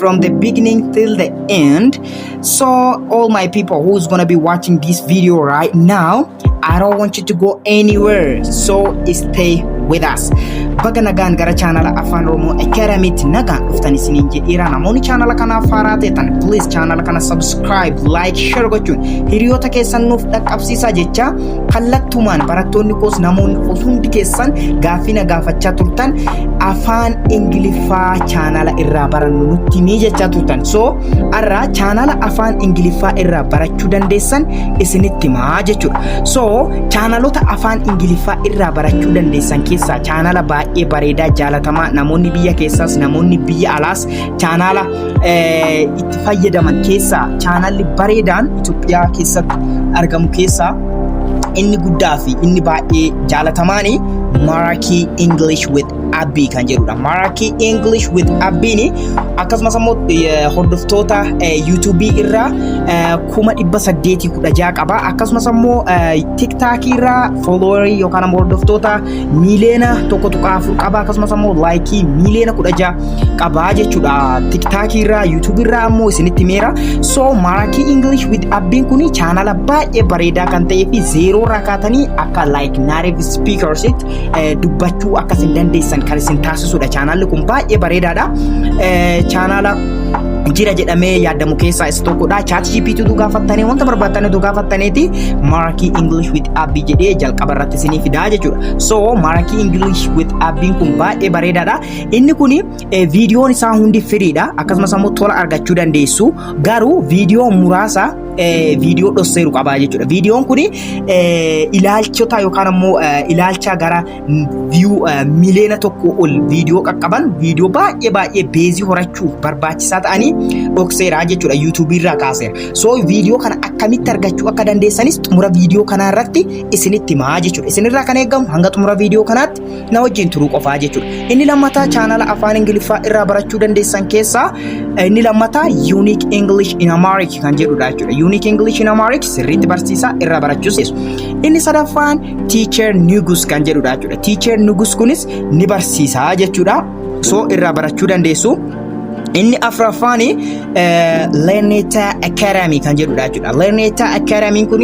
from the beginning till the end so all my people who's gonna be watching this video right now i don't want you to go anywhere so stay with us baga nagaan gara chaanala afaan oromoo academiitti nagaan dhuftan isiniin jedheera namoonni chaanala kanaaf haaraa ta'etan please chaanala kana subscribe like share gochuun hiriyoota keessan nuuf dhaqqabsiisaa jecha Kallattumaan barattoonni koos namoonni koos hundi keessan gaaffii na gaafachaa turtan afaan Ingiliffaa chaanala irraa barannu nutti himii jechaa turtan. So har'a chaanala afaan Ingiliffaa irraa barachuu dandeessan isinitti himaa jechuudha. So chaanalota afaan Ingiliffaa irraa barachuu dandeessan keessaa chaanala baay'ee bareedaa jaalatamaa namoonni biyya keessaas namoonni biyya alaas chaanala itti fayyadaman keessaa chaanalli bareedaan Itoophiyaa keessatti argamu keessaa inni guddaa fi inni baay'ee jaalatamaan Maraakii English with Abbii kan jedhudha. Maraakii English with Abbiin akkasumas immoo hordoftoota YouTube irraa kuma dhibba saddeetii kudha ja'a qaba. Akkasumas immoo TikTok irraa fooloowarii yookaan immoo hordoftoota miiliyoona tokko tuqaa afur qabaa akkasumas ammoo laayikii miiliyoona kudha ja'a qabaa jechuudha tiktaakii irraa yuutuubii irraa ammoo isinitti meera so maarakii ingilish wit abbiin kun chaanala baay'ee bareedaa kan ta'ee fi zeeroo irraa kaatanii akka laayik naareef spiikarsitti dubbachuu akka isin dandeessan kan isin taasisudha chaanalli kun baay'ee bareedaadha chaanala jira jedhamee yaadamu keessaa isa tokkodha. Chaat GPT tu gaafattanii wanta barbaaddan tu gaafattaniiti maarakii English with Abbi jedhee jalqaba irratti isinii fidaa jechuudha. So Maraki English with appiin kun baay'ee bareedaadha. Inni kun viidiyoon isaa hundi firiidha. Akkasumas ammoo tola argachuu dandeessu. Garuu viidiyoo muraasa viidiyoo dhosseeru qabaa jechuudha. Viidiyoon kun ilaalchota yookaan ammoo ilaalcha gara viyuu miliyoona tokko ol viidiyoo qaqqaban viidiyoo baay'ee baay'ee beezii horachuuf barbaachisaa ta'anii dhokseera jechuudha. Yuutuubii irraa kaaseera. So viidiyoo kana akkamitti argachuu akka dandeessanis xumura viidiyoo kanaa irratti isinitti himaa jechuudha. Isinirraa kan eegamu hanga xumura viidiyoo kanaatti na wajjin turuu qofaa jechuudha. Inni lammataa chaanala afaan Ingiliffaa irraa barachuu dandeessan keessaa inni lammataa Unique English in Amharic kan jedhudha jechuudha. Unique English in Amharic sirriitti barsiisaa irraa barachuu seesu. Inni sadaffaan Teacher Nugus kan jedhudha jechuudha. Teacher Nugus kunis ni barsiisaa jechuudha. soo irraa barachuu dandeessu. Inni afraffaan Learneta Academy kan jedhudha jechuudha. Learneta Academy kun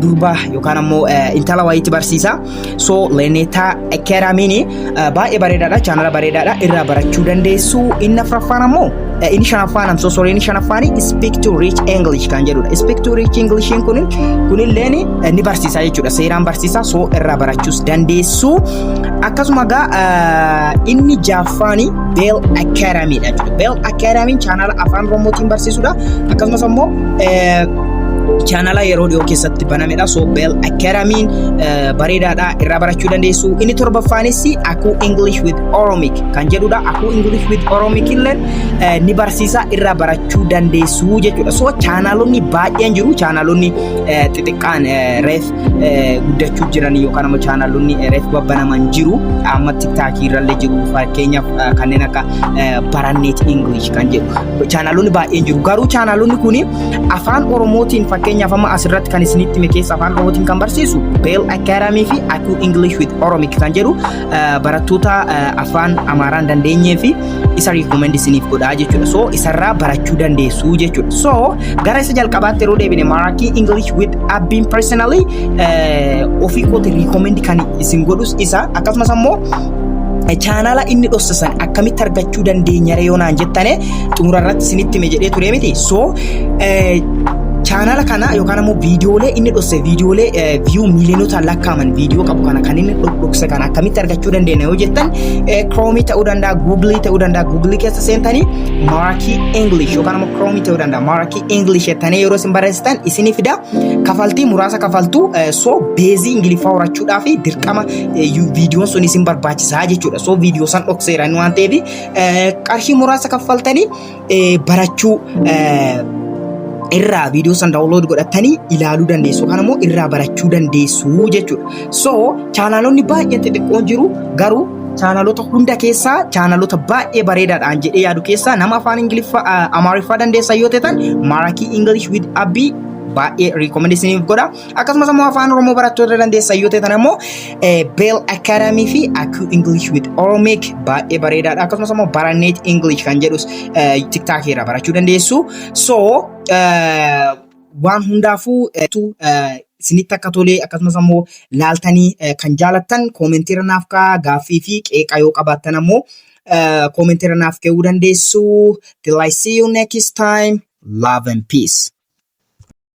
durba yookaan ammoo intala wayiitti barsiisa. So Learneta Academy baay'ee bareedaadha. Chaanala bareedaadha. Irraa barachuu dandeessu. Inni afraffaan ammoo inni shanaffaan amsoo sorry inni shanaffaan speak to rich English kan jedhudha. Speak to rich English kun kunilleen ni barsiisa jechuudha. Seeraan barsiisa. So irraa barachuus dandeessu. Akkasuma egaa ah, inni jaaffaan Bell Academy dha jechuudha. Bell Academy chaanala afaan Oromootiin barsiisudha. Akkasumas immoo eh, chaanala yeroo dhiyoo keessatti banamedha. So Bell Academy eh, bareedaadha irraa barachuu dandeessu. Inni torbaffaanis Akuu English with Oromic kan jedhudha. Akuu English with Oromic illee eh, ni barsiisa irraa barachuu dandeessu jechuudha. So chaanalonni baay'een jiru. Chaanalonni eh, xixiqqaan eh, reef guddachuu jiran yookaan immoo chaanaalonni reef babbanaman jiru amma tiktaakii irrallee jiru fakkeenyaaf kanneen akka baranneet ingilish kan jedhu chaanaalonni baay'een jiru garuu chaanaalonni kun afaan oromootiin fakkeenyaaf amma asirratti kan isinitti hime keessa afaan oromootiin kan barsiisu beel akaaramii fi akuu ingilish with oromik kan jedhu barattoota afaan amaaraan dandeenyee fi isa recommend isiniif godhaa jechuudha. So isarraa barachuu dandeessu jechuudha. So gara isa jalqabaatti yeroo deebine Marathi English with Abbiin personally eh, ofii kooti recommend kan isin godhus isa akkasumas ammoo chaanala inni dhossisan akkamitti argachuu dandeenya yoo naan jettane xumura irratti isinitti hime jedhee ture miti so eh, chaanala kana yookaan ammoo viidiyoolee inni dhosse viidiyoolee eh, viyuu miiliyoonota lakkaa'aman viidiyoo qabu kana kan inni dhokse kana akkamitti argachuu dandeenya yoo jettan Kiroomii ta'uu danda'a, Guugilii ta'uu danda'a, Guugilii keessa seentanii Marakii English yookaan immoo Kiroomii ta'uu danda'a, Marakii English jettanii yeroo isin barreessitan isinii fida. Kafaltii muraasa kafaltu so beezii Ingiliffaa horachuudhaa fi dirqama viidiyoon sun isin barbaachisaa jechuudha. So viidiyoo san dhokseera waan ta'eef qarshii muraasa kaffaltanii barachuu irraa viidiyoo san daawunlood godhattanii ilaaluu dandeessu yookaan immoo irraa barachuu dandeessu jechuudha. So chaanaalonni baay'een xixiqqoon jiru garuu chaanaalota hunda keessaa chaanaalota baay'ee bareedaadhaan jedhee yaadu keessaa nama afaan ingiliffaa amaariffaa dandeessan yoo ta'an maarakii ingilish with abbii baay'ee riikomendeesiniif godha Akkasumas ammoo afaan Oromoo barattoota dandeessan yoo ta'an ammoo Bell Academy fi Aku English with Oromic baay'ee bareedaadha. Akkasumas ammoo Barannet English kan jedhus TikTok irraa barachuu dandeessu. So waan hundaafuu isinitti akka tolee akkasumas ammoo laaltanii kan jaalattan koomentii irra naaf kaa gaaffii fi qeeqa yoo qabaattan ammoo koomentii irra naaf ka'uu dandeessu. Till I see you next time. Love and peace.